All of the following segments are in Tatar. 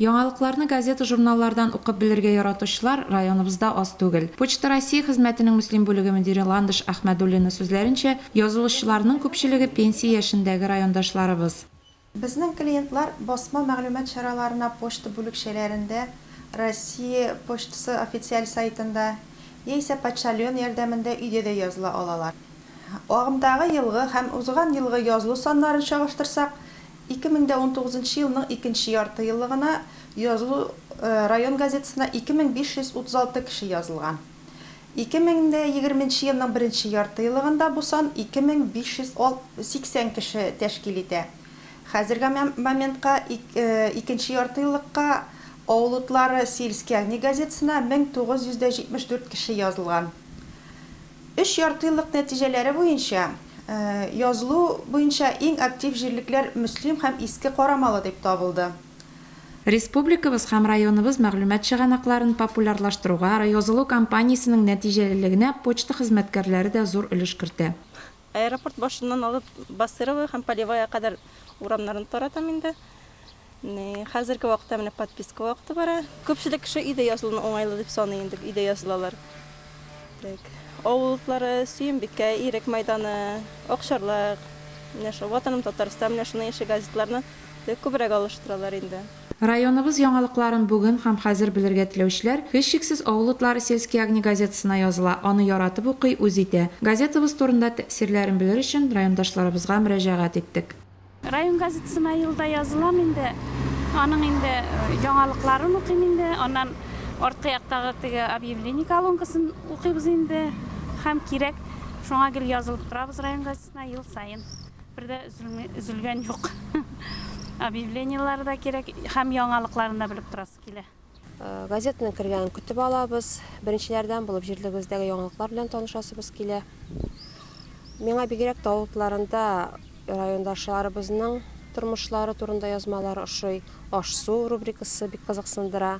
Яңалыкларны газета-журналлардан укып белергә яратучылар районыбызда аз түгел. Почта России хезмәтенең Мөслим бүлеге мөдире Ландыш Әхмәдуллина сүзләренчә, язылучыларның күпчелеге пенсия яшендәге райондашларыбыз. Безнең клиентлар басма мәгълүмат чараларына почта бүлекчәләрендә, Россия почтасы официаль сайтында яисә почтальон ярдәмендә өйдә дә языла алалар. Агымдагы елгы һәм узган елгы язылу саннарын чагыштырсак, Ике мең дә унтугызынчы елның икенче яртыеллыгына язылу район газетасына 2536 кеше язылган. Ике мең дә егерменче елның беренче яртыеллыгында бу сан 2580 кеше тәшкил итә. Хәзерге моментка икенче яртыеллыкка Авыл утлары Сельские огни газетасына 1974 кеше язылган. Өч яртыеллык нәтиҗәләре буенча, язылу буенча иң актив җирлекләр Мөслим һәм Иске Карамалы дип табылды. Республикабыз һәм районыбыз мәгълүмат чыганакларын популярлаштыруга язылу кампаниясенең нәтиҗәлелегенә почта хезмәткәрләре дә зур өлеш кертә. Аэропорт башыннан алып Басырово һәм Полевая кадәр урамнарны таратам инде. Хәзерге вакытта менә подписка вакыты бара. Күпчелек кеше өйдә язылуны уңайлы дип саный инде, өйдә язылалар. Так, авыл утлары, Сөембикә, Ирек мәйданы, Акчарлак, менә шул Ватаным Татарстан, менә шуның ише газетларны күбрәк алыштыралар инде. Районыбыз яңалыкларын бүген һәм хәзер белергә теләүчеләр, һичшиксез, Авыл утлары сельские огни газетасына языла, аны яратып укый, үз итә. Газетабыз турында тәэсирләрен белер өчен райондашларыбызга мөрәҗәгать иттек. Район газетасына елда язылам инде, аның инде яңалыкларын укыйм инде, аннан арткы яктагы теге объявление колонкасын укыйбыз инде һәм кирәк, шуңа гел язылып торабыз район газетасына ел саен. Бер дә өзелгән юк. Объявлениеләр дә кирәк һәм яңалыкларын да белеп торасы килә. Газетаның кергәнен көтеп алабыз. Беренчеләрдән булып җирлегебездәге яңалыклар белән танышасыбыз килә. Миңа бигрәк тә авыл кларында райондашларыбызның тормышлары турында язмалары ошый. Аш-су рубрикасы бик кызыксындыра.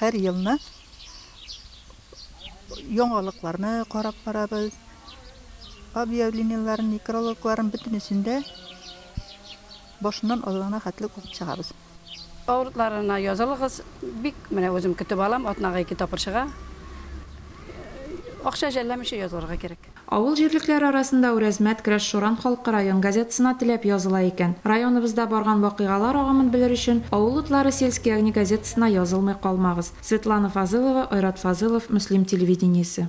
Һәр елны яңалыкларны карап барабыз, объявлениеләрен, некрологларын бөтенесен дә башыннан азагына хәтле укып чыгабыз. Авырлыкларына язылыгыз, бик менә үзем көтеп алам, атнага ике тапкыр чыга. Акча жәлләмичә язылырга кирәк. Авыл җирлекләре арасында Үрәзмәт, Крәшшуран халкы район газетасына теләп языла икән. Районыбызда барган вакыйгалар агымын белер өчен, Авыл утлары Сельские огни газетасына язылмый калмагыз. Светлана Фазылова, Айрат Фазылов, Мөслим телевидениесе.